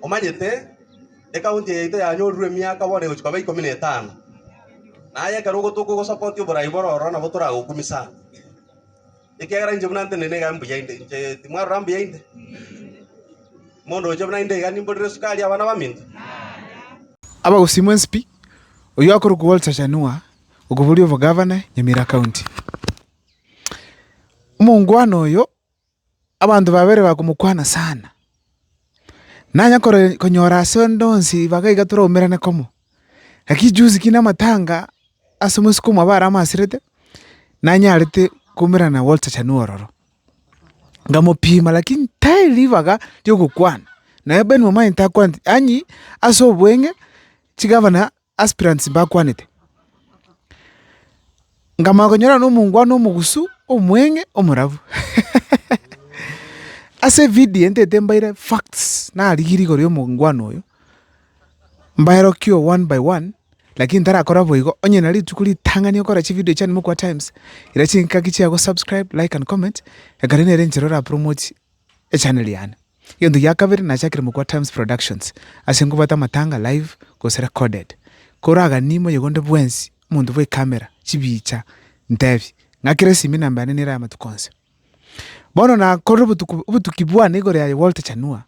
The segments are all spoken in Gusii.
Omanyete, ekaunti yaito yanyorire emiaka bono egochia koba ikomi na etano. Na aye ekero ogotoka ogosapoti oborai bore ororo nabo toragokumie sana, ekiagera inche buna ntenena iga mbuya inde. Inche timwarora mbuya inde? Mondoche buna inde iga nimborere esukari abana baminto? Abagosiimwa Ensipi, oyio akorokwa Walter Chanua, okoboria obogavana Nyamira County. Omongwana oyo. Abanto babere bakomokwana sana, nanya konyora ase onde onsi ribaga iga toraumerane komo. Naki echusi ki namatanga ase omosike omwabo are amaserete, nanyarete koumerana Walter Chanua ororo. Nkamopima lakini tari ribaga riogokwana, naye Ben Omanyete akwanete, ang'ii ase obweng'e chigabana Aspirants mbakwanete, nkamanya konyorana nomongwana omogusu, omweng'e, omorabu. Ase evidio eye ntaete mbaire facts, narigiri rigo ria omongwana oyo, mbaerokio one by one, lakini ntarakora boigo, onye na rituko ritang'ani okora chividio chiane Mokua Times, ira chingaki chia gosubscribe, like and comment, ekero nere enchera orapromotie. Echannel yane. Egento gia kabere nachakire mokwa Times Productions ase nkobwata amatanga live gose recorded. Koraganie moyegonde bwensi omonto bwe camera, chibicha, ntebi, ng'akera esimi enamba yane nere amatuko onsi. Bono nakorire obotuko obotuki bwane igoro yaye Walter Chanua,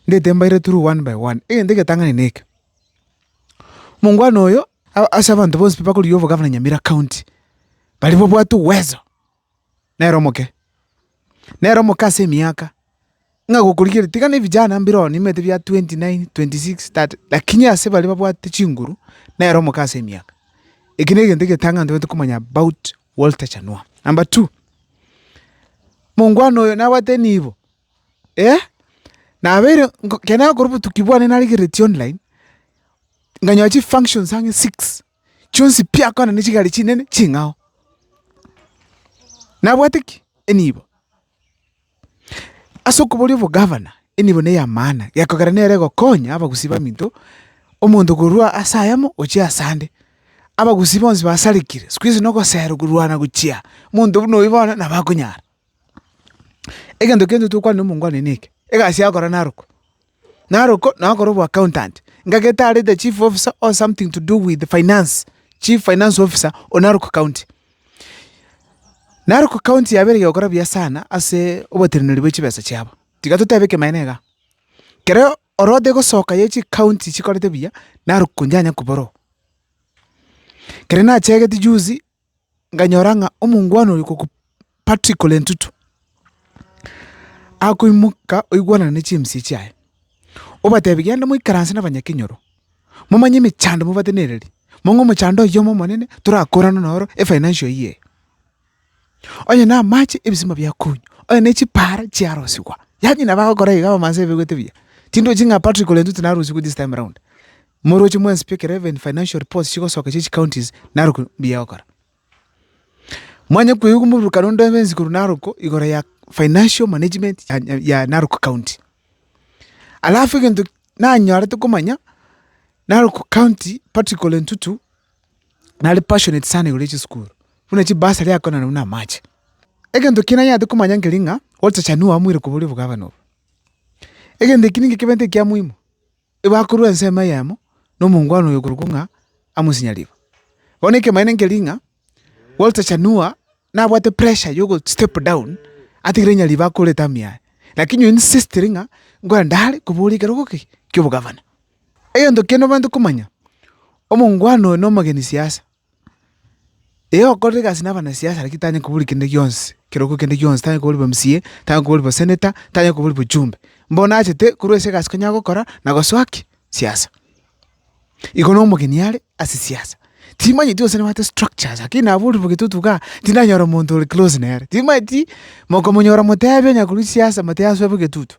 ndete mbaire through one by one. Egento egetang'ani neke, omongwana oyo, ase abanto bonsi pi bakorigia obogavana Nyamira County, baria babwate uwezo. “Nere omoke, nere omoke ase emiaka, ng'a gokorigereria, tiga nebijana mbireo nimanyete bia twenty nine, twenty six, thirty, lakini ase baria babwate chinguru, nere omoke ase emiaka. Eki negento egetang'ani ntobwenerete komanya about Walter Chanua. Number two, mongwana oyo nabwate enibo, eh, nabeire ekero nakorwa obotuki bwane narigereretie online, nkanyoa chifunctions ang'e six. chionsi biakwana ne chigari chinene ching'ao. Nabwate ki? Enibo. Ase okoboria obogavana, enibo neya maana, gekogera nere egokonya abagusii baminto, omonto korwa ase ayamo gochia ase ande. Abagusii bonsi basarekire, sikuizi nogosero korwana gochia, monto buna oyio bono nabo akonyara. Egento kende tokwana nomongwana one neke, egasi yao kora narokwa, narokwa naye akore obwacountant, ngagete are the chief officer or something to do with finance, chief finance officer oyo narokwa county. Narokwa county yabeire egekora buya sana ase oboteneneri bwe chibesa chiabo. Tiga totebe ekemanero iga, kero orodotete egosoka ye chikaunti chikorete buya, narokwa inche anyakwa borobwo. Kere nachegete juzi. nkanyora ng'a omongwana oyo okwo Patrick ole Ntutu, akoimoka oigwanane ne chiemisia chiaye, obatebie genda moikaranse na abanyakenyoro, momanye emechando mobatenererie, mong'e omochando oyomo omonene torakorana noro efinancial year eye. Onye na amache, ebisima biakonywa, onye ne chipaara chiarosigwa, yaani nabo agokora iga abamasaai baigwete buya, tindochi ng'a Patrick ole Ntutu narosigwe this time round. Omorochi mwensi pi ekero even financial reports chigosoka chie chicounties narokwo mbuya ogokora. Mwanya kweigwa omoburokano onde obensi korwa narokwo igoro ya financial management ya Narok County. Alafu egento nanyorete komanya, Narok County Patrick Ole Ntutu nare passionate sana igoro ya chisukuru, buna chibursary akoonana buna amache. Egento kio nanyarete komanya nkeri ng'a Walter Chanua amoire koba oria obogavana obo. Egento eki nigo ekebeete ekia muhimu. Bakorua ensemo eyemo nomongwana oyo korokwo ng'a amosinye riba. Bono ekemanyeto nkeri ng'a Walter Chanua nabwate pressure ya ogo step down atigere nyariba akore etamu yaye, lakini oyo insistire ng'a inkore ndare kobora ekerogo ki ki'obogavana. Egento kende obwenerete komanya, omongwana oyo nomogeni siasa. Ee okorire egasi nabanasiasa lakini tanyare kobori kende gionsi, ekerogo kende gionsi, tanyare kobori bw'MCA, tanyare kobori bw'senator, tanyare kobori bw'ochumbe. Mbono achete korwa ase egasi konya agokora na gosoa ki? Siasa. Igo na omogeni are ase siasa, timanyeti gose nabwate structures lakini naborirwe getoto igaa, tindanyora omonto ore close nere, timanyeti, mokomonyora motebi onye korwa siasa motebi asoe bo egetutu.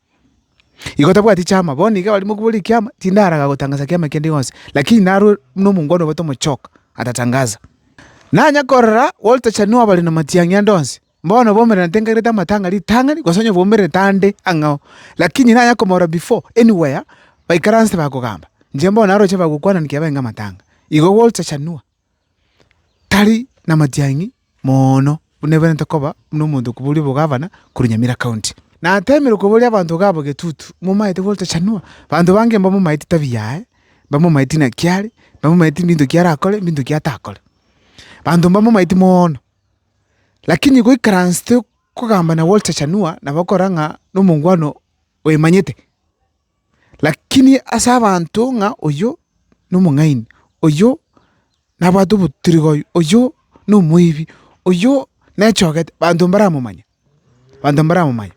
Igo tabwati chiama, bono iga abarimo kobua rikiama, tindaraga gotangaza kiama kende gionsi, lakini narwe buna omongwana obote omochoka atatangaza. Nanya korora Walter Chanua bare na matiang'i ande onsi, bono bomerera ntengagerete amatang'a ritang'ani, gose onye bomerete ande ang'ao, lakini nanya komorora before anywhere baikaranse bakogamba, inche mbono naroche bagokwananigiki abae ng'amatang'a. Igo Walter Chanua. tari namatiang'i moono buna ebiarente koba buna omonto okoboria obogavana korwa Nyamira County. Natemirwe koboria abanto iga abo Getutu, momaete gotochanua? Abanto bange mbamomaeti tabia yaye, mbamomaeti naki are, mbamomaeti binto ki arakore, binto ki atakore. Abanto mbamomaeti moono, lakini goikaransete kogamba na gotochanua nabo okora ng'a nomongwana oyemanyete. Lakini ase abanto ng'a oyio nomong'aini, oyio nabwate obotirigoyo, oyio nomoibi, oyio nechogete, banto mbaramomanya, banto mbaramomanya.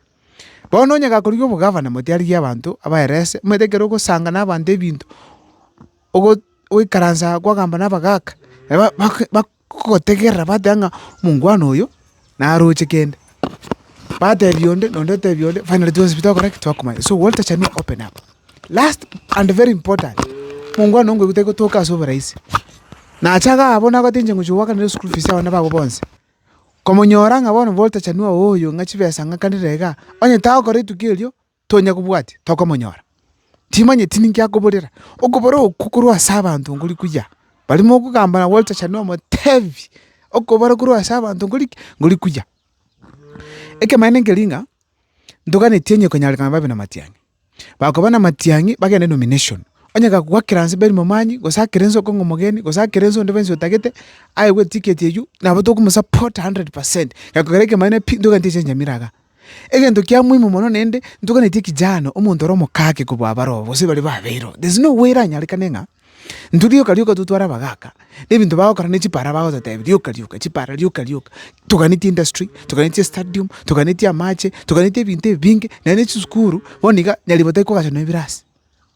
Bono onye gakorigia obogavana motiarigia abanto abaerese, omanyete ekero ogosanga na abanto ebinto, ogo- ogoikaransa kwagamba na abagaka, nabo bak- bak. Gotegerera bateba ng'a omongwana oyo naroche kende, batebia onde na onde otebia onde finally twonsi pi twakora ki? Twakomanya. So Walter Chanua open up. Last and very important, omongwana onkoigu tari gotoka ase oborahisi, nacha iga abwo nagoteba inche ngochia goakanera eschool fees y'abana babo bonsi, komonyora ng'a bono Walter Chanua oyo ng'a chibesa ng'akanire igaa, onye tagokora etuko erio. tonya kobwatia, tokomonyora. Timanyeti ninki akoborera. Okobora okwo korwa ase abanto nkori kuya. Baria mokogamba na Walter Chanua omotebi, okobora korwa ase abanto nkori ki? Nkori kuya. Ekemanero nkeri ng'a, ntoganeti onye konyarekana babe na matiang'i. Bakoba na matiang'i, bagende nomination. Onye gakogwa akera nse beri momanyie, gose akera ense okong'a omogeni, gose akera ense onde bwensi otagete, aegwe etiketi eywo, nabo tokomo support hundred percent. Gekogera ekemanero pi, ntoganeti echiancha mire iga. Egento kia moimo mono nende ntoganetie kijana omonto ore omokake kobua abaroo gose bare babeiro. There's no way eranyarekane ng'a intwe rioka rioka totware abagaka na ebinto bagokora na chipara bagototebia rioka rioka chipara rioka rioka. Toganetie industry, toganetie stadium, toganetie amache, toganetie ebinto ebinge naende chisukuru bono iga nyaribotari kogachanwa ebirasi.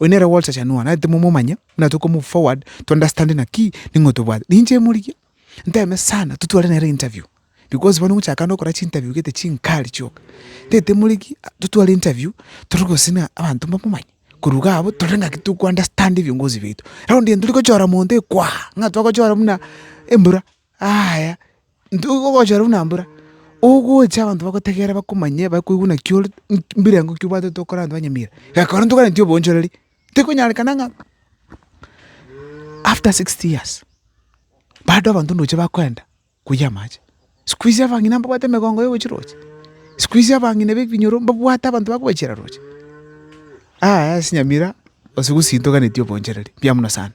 Oyo nere Walter Chanua, naye timomomanya, buna toko move forward to understand naki ning'o tobwate. Ninche emorigia, nteme sana totware nere interview, because bono ogochaka na ogokora chinterview gete chinkari chioka, ntete emorigia totware interview tore gose na abanto mbamomanye, korwa iga abwo tore ng'aki toko understand ebiongozi biaito. Raundi eye torigochora monto ekwaha, ng'a twagochora buna embura. Aaya, ntoigwe ogochora buna mbura, ogocha abanto bagotegerera bakomanye bakoigwe naki ore mbirengo ki obwate tokore abanto ba nyamira. Reka rora ntokaganie obonchoreri, tikonyarekana ng'a after sixty years, bado abanto ndoche bakoenda koyia amache. Sikuizi abang'ina mbabwate emegongo ya ogochia roche, sikuizi abang'ina ba ebinyoro mbabwate abanto ba kobachera roche. Aaya ase nyamira, gose gosii ntoganetie obonchoreri, mbuya mono sana.